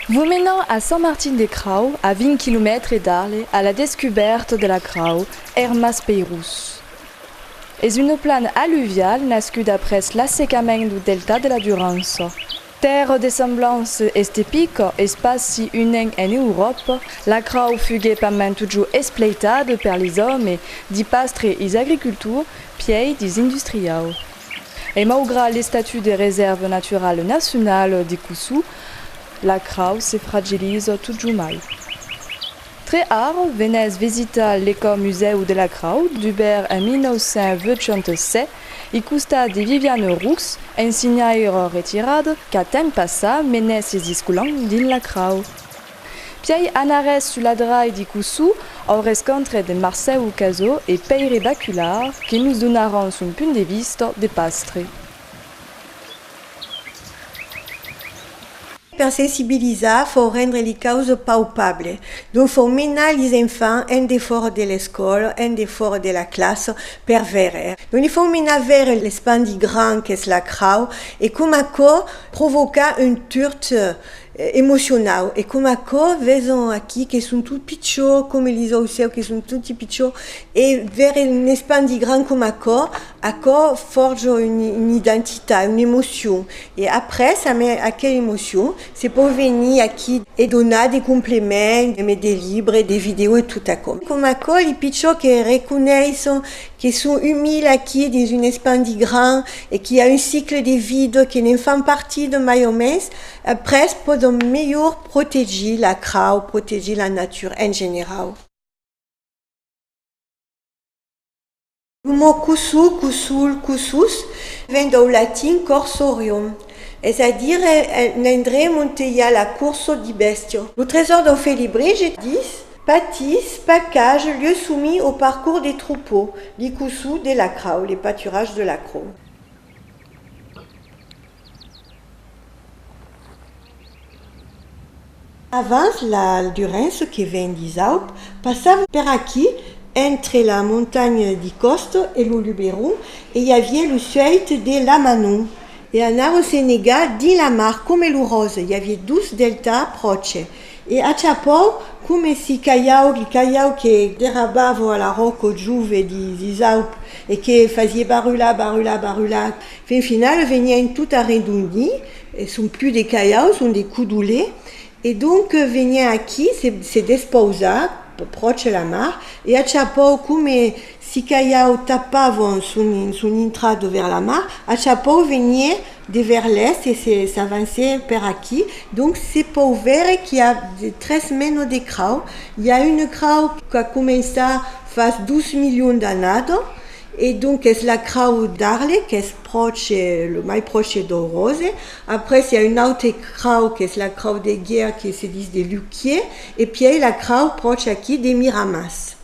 Vos menam a Sant Martin de Crau, a 20 quilomètres d'Arles, a la descubèrta de la crau, er Mas Peirós. Es una plana alluvial nascuda après l'assecament dau delta de la Durança. Tèrra de semblança estepica, espaci unent en Euròpa, la crau fugué pas mens totjor espleitada per les òmes, di Pastre is agricultor, pièi dis industriau. E maugrat l'estatut de resèrva naturala nacionala de Cossou, la crau se fragiliza totjor mai. Tre Ar venèz visitar l'Ecomusèu de la Crau dubèrt en 1987, i costat de Viviane Roux, ensinhaire retirada qu'a temps passat menes sis discolan dins la crau. Pièi anarès sus la drai di Cossou au rescontre de Marcèu Cazó e Pèire Baculard que nos donaràn son punt de vista de pastre. Per sensibilizar fò rendre li causes paupable. Donc fò menar lis enfants en defòra de l'escòla, en defòra de la classa per veire. Donc li fò menar veire l'espandi grand qu'es la crau e com aquò provoca un turt emocionau e com aquò veson aquí que son tot pichó, com lis aucèus que son toti pichó e veire un espandi grand com aquò Aquò forja una identitat, una emocion e après amb aquela emocion se pòu venir aquí e donar de complements e mai de libres, de vidèos e tot aquò. Coma aquò li pichons que reconeisson que son un mil aquí dins un espan de grand e qu'i a un cicle de vida que ne'n fan partida mai o mens, après pòdon melhor protegir la crau, protegir la natura en generau. Lo mot cusu, cusul, cusus, ven dau latin corsorium, es a dire un endrem onte i a la curso di bèstia. Lo tresor dau Félibrige dis, Patis, pacage, lieu soumis au parcours des troupeaux, li cusu de la crau, le pâturage de la crau. Avans la Durance que ven disaup passava per aquí, entre la montanha di Costo e lo Luberon e i aviá lo suèit de Lamanon e anava se negar dins la mar coma lo Rose, i aviá dos delta pròche e achapau coma si caiau li caiau que derrabava la ròco jove disaup e que fasié barrular, barrular, barrular. Fin finala venièn tot arren d'ondi son plus de Caiaus, ont de Coudolé, e donc venièn aquí se despausar pròche la mar, e a chapòu coma si Caiau tapavon son intrada vers la mar, a chapòu veniè de vers l'èst e s'avancè per aquí, donc se pòu vèrre qu'i a tres menas de crau, i a una crau qu'a començat fas dos milions d'annadas, E donques la crau d'Arles qu'es pròche, lo mai pròche dau ròse. Après i a un aute crau qu'es la crau de Guier que se dis de Luquier e pièi la crau pròche aquí de Miramàs.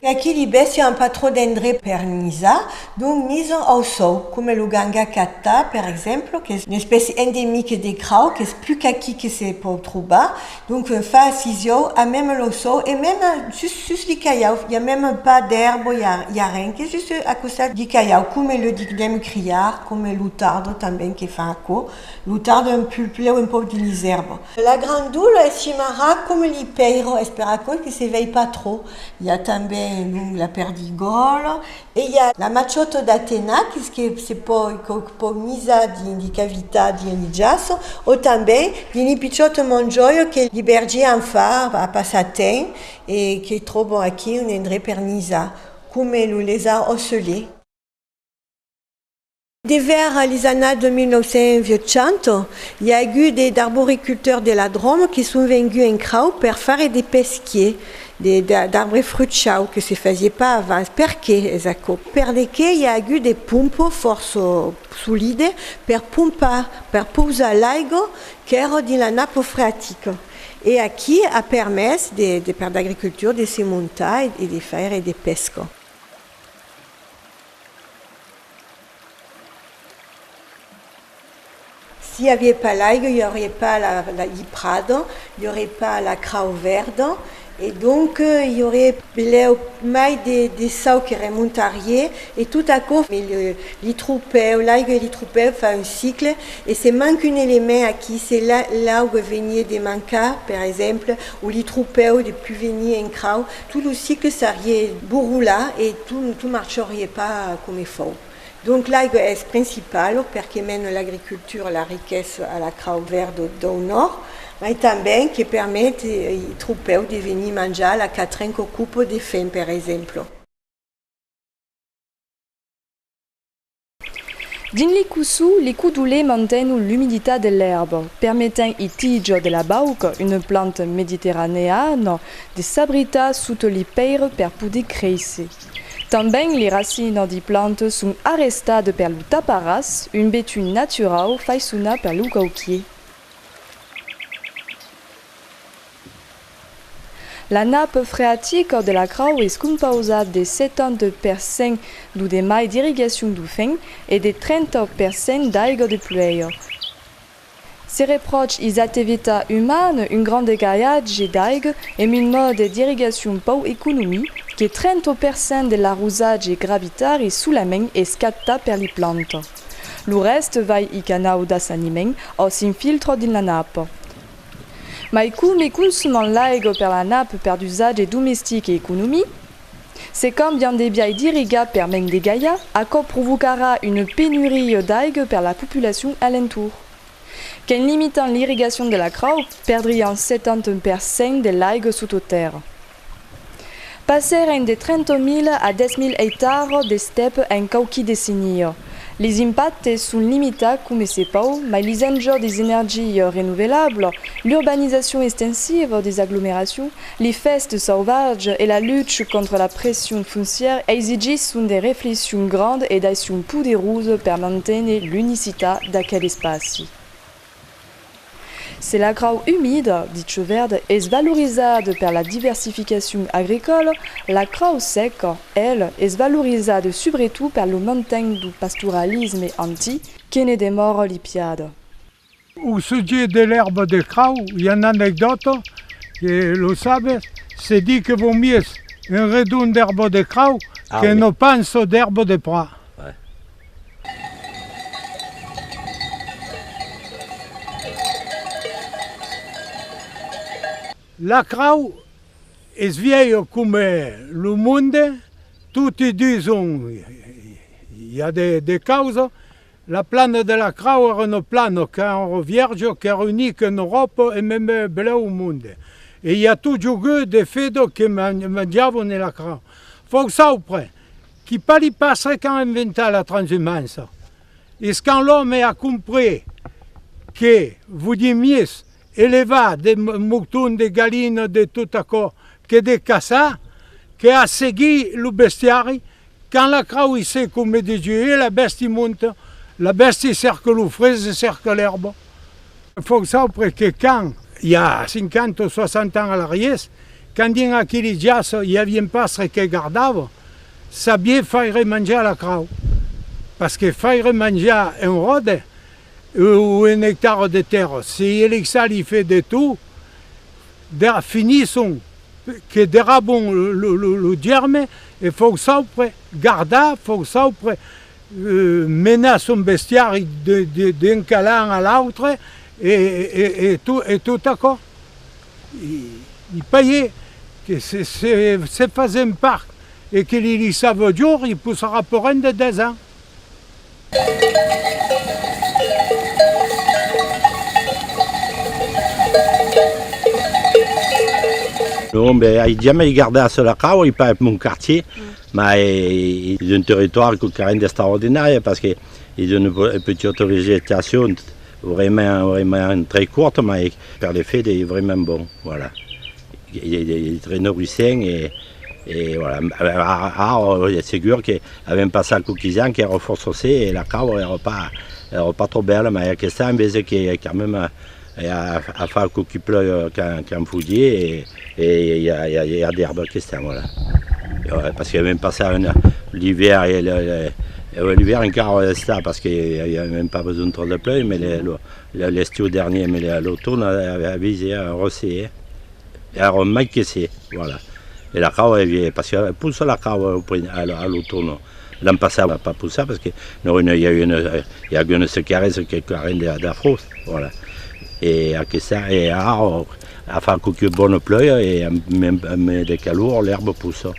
E aquí li bèstia an pas trop d'endrech per nisar, donc nison au sòu, coma lo Ganga Katta, per exemple, qu'es una espècia endemique de crau, qu'es pus qu'aquí que se pòu trobar, donc un fa sisiòu a mème lo sòu, e mème sus sus li caiau, i a mème pas d'èrbo, i a i a ren, qu'es just a costat li caiau, coma lo dignem criar, coma lo Tardo tanben que fa aquò, Lo tarde un pulp lèu un pauc de lisèrba. La grandula es chimarrà coma li pèira, es per aquò que se vei pas trop. I a tanben lo la perdigòla e i a la maciòta d'Atena que's que se pòi quauc pauc misar dins li cavità dins li jaço o tanben dins li pichòta mongioia que li bergier an far a passar temps e que tròbon aquí un endrech per misar, coma lo lesar ocelé. De vers les annadas de 1980, i a agut de d'arboriculteurs de la Dròme que son venguts en crau per faire de pesquier, de d'arbre fruchau, que se fasie pas avans. Per qué es aquò? Perdequé i a agut de pompes fòrça solides per pompar, per pausar l'aiga qu'èra dins la napa freatica. E aquí a permés de de per d'agricultors de se montar e de faire de pesca. Si i avié pas l'aiga, i aurie pas la la li prada, i aurie pas la crau verda e donc i aurie belèu mai de de sau que remontarié e tot aquò me le li tropèu, l'aiga e li tropèu fa un cicle e se manque un element aquí, se la l'auga venié de mancar per exemple o li tropèu de pus venir en crau, Tu lo sicle s'arie borrola e tu marchorie pas come fau. Donc l'aigue es principalo per que mene l'agricultura, la riquessa a la crau verda dau nòrd, mai tanben que permete i tropèu de venir manjar la catren qu'ocupo de fem per exemplo. Dins l'icussu, li codolé mantenho l'umiditat de l'èrba, permetent i tijo de la bauca, una planta mediterraneana, de s'abritar sota li pèire per poder créisser. Tanben li racina di planta son arrestada per lo taparàs, un betun naturau faisonat per lo cauquier. La nape freatica de la crau es compausa de 70 per cent d'o de mai d'irrigacion d'o fenc e de 30 per cent d'aiga de pluèja. Se repròch is activita uman un gran degalhatge d'aiga emb un mòde d'irrigacion pau economi que 30 per cent de l'arrosatge gravitari solament es capta per li planta. Lo rèste vai i canau d'assaniment o s'infiltra dins la napa. Mai come consuman l'aigua per la nap per d'usatge domestic e economic, se cambian de biais d'irrigar per mens de gaia, aquò provocarà una penuria d'aigua per la populacion alentour. Qu'en limitant l'irrigacion de la crau, perdrián 71 per cent de l'aigua sota tèrra. Passèren de 30.000 a 10.000 eitars d'estep en quauqui decennia. Lis impactes son limitats coma se pòu, mai lis enjòcs des energies renovelables, l'urbanizacion estensiva des aglomeracions, li fèsts sauvatges e la lucha contra la pression foncièra exigisson de reflexions grandes e d'accions poderosas per manténer l'unicitat d'aquel espaci. Se la grau umida de chò verd es valorizada per la diversificacion agricòla, la crau sèca, el, es valorizada subretot per lo manten dau pastoralisme antic que ne demòra lipiada. Au sujet de l'èrba de crau, i a una anecdòta, que los sabes se dit que vau mies un redon d'èrba de crau que una pança d'èrba de prat. La crau es vièlha coma lo monde, toti dison i a de causa, la plana de la crau èra una plana qu'èra vièrja, qu'èra unica en Euròpa e meme belèu au monde. E i a totjorn de fedò que manjavan la crau. Fòrça auprès. Qui pas li passe qu'an inventat la transhumança es quand l'òme a comprés que vodier mies elevar de mouton, de galina, de tot aquò que de caçar, que a seguir lo bestiari, quand la crau i se comme de joie la bèsti monta, la bèsti cerca lo fresc, cerca l'èrba, Forçau per que quand, i a 50 o 60 ans a l'arriés, quand dins aqueli jaç i avien pas re que gardava, sabié faire manjar la crau. Pas que faire manjar un ròde o un ectara de tèrra, se elixar li fait de tout, dera finisson que dera bon lo germe e forçau per gardar, forçau per. menar son bestiari d'un calan a l'autre e tot aquò i paye que se fase un parc e que li lisava au jorn i possarà per un de 10 ans. Non, ben ai jamai gardat sul acau, ai pas mon quartier. Mas es un territòri que carent d'estar ordinari, pas que es una petita vegetacion vraiment très courta, mas per le fait es vraiment bon, voilà, es très nourissent e voilà, ara es segur que avèm passat qualques ans qu'èra fòrça sec e la cau èra pas trop bèla, mas aquesta an vese que quand même, I a a far qu qui pleu qu'an fugir e i a i a d'erba que estan voilà parce que vam passar un l'hiver e l'hiver encara o estar parce que i avèm pas besonh trop de pleu mais l'estiu dernier mais l'automne a vist ja rosser e ja ro mai que se voilà e la cau e vie parce que pus la cau a l'automne L'an passat la pas possar perque no i a una i a una secaresa que carent de de frost voilà e aquesta e ara a far quauque bona plòia e amb de calor l'erba possa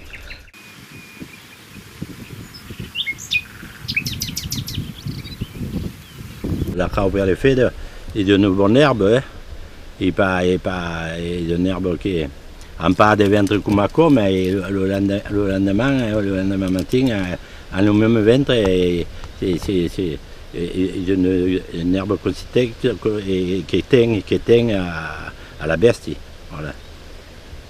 La crau per le feder e de ne bon erbe eh e pas e pas e de n'erbe que an pas de ventre coma coma e lo lende lo lendeman eh lo lendeman matin an lo meme ventre e se se e de ne n'erbe que se tec que ten que ten a la bèsti voilà.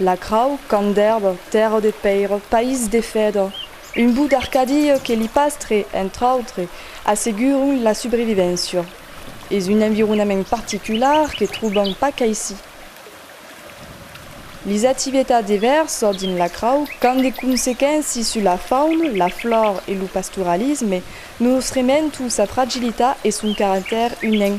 La crau, camp d'èrba, tèrra de pèira, país de fèdra, un bout d'Arcàdia que li pastre, entre autres, asseguron la subrevivéncia. Es un environament particular que trobam pas qu'aicí. Lis activetats de vèrsa dins la crau qu'an de consequénci sus la fauna, la flor e lo pastoralisme, nos rementu sa fragilitat e son caractèr unenc.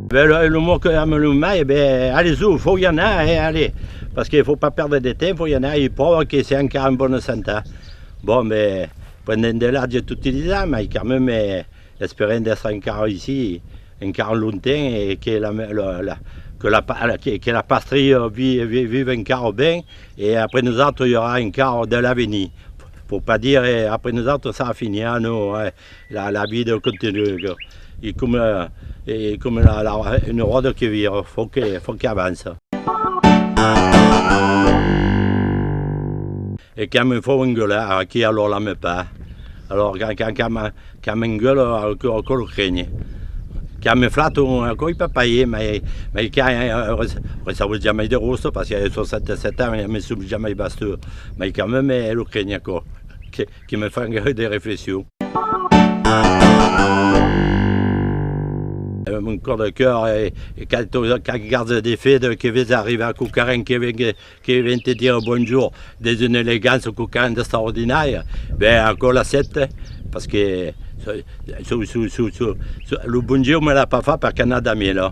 Be lo, lo mot que ame lo mai, be allez o, faut y anar eh, allez, parce que faut pas perdre de temps, faut y anar, il prova que c'est encara en bonne sante. Bon be, pendent de l'atge tot utilizar, mai quand même esperem d'estre encara ici, encara longtemps e que la me, la, la, que la pa, la, que la pastria vi, vi, vive encara ben e après nosautres i aurà encara de l'avenir, pour pas dire après nosautres ça finira, non eh. La vida continua, e coma una ròda que vira, fò que avança. E quand me fau enguelar, aquí a l'òla me pah. Quand m'enguelo, aquò lo creni. Quand me flato, aquò i pas pair, mai quand recevo jamai de rosto, parce que a 67 ans, me sum jamai bastur, mai quand meme lo creni aquò. Que me fan gaire de reflexion. Mon cor de cœur e qu'a tot qu'a garde de fede que ves arribar a quauquarren que vengue que ven te dire bonjour des une elegance quauquarren d'extraordinària ben aquò l'accèpte parce que sou sou sou sou sou lo bon Dieu me l'a pas fa per qu'anna da mi no.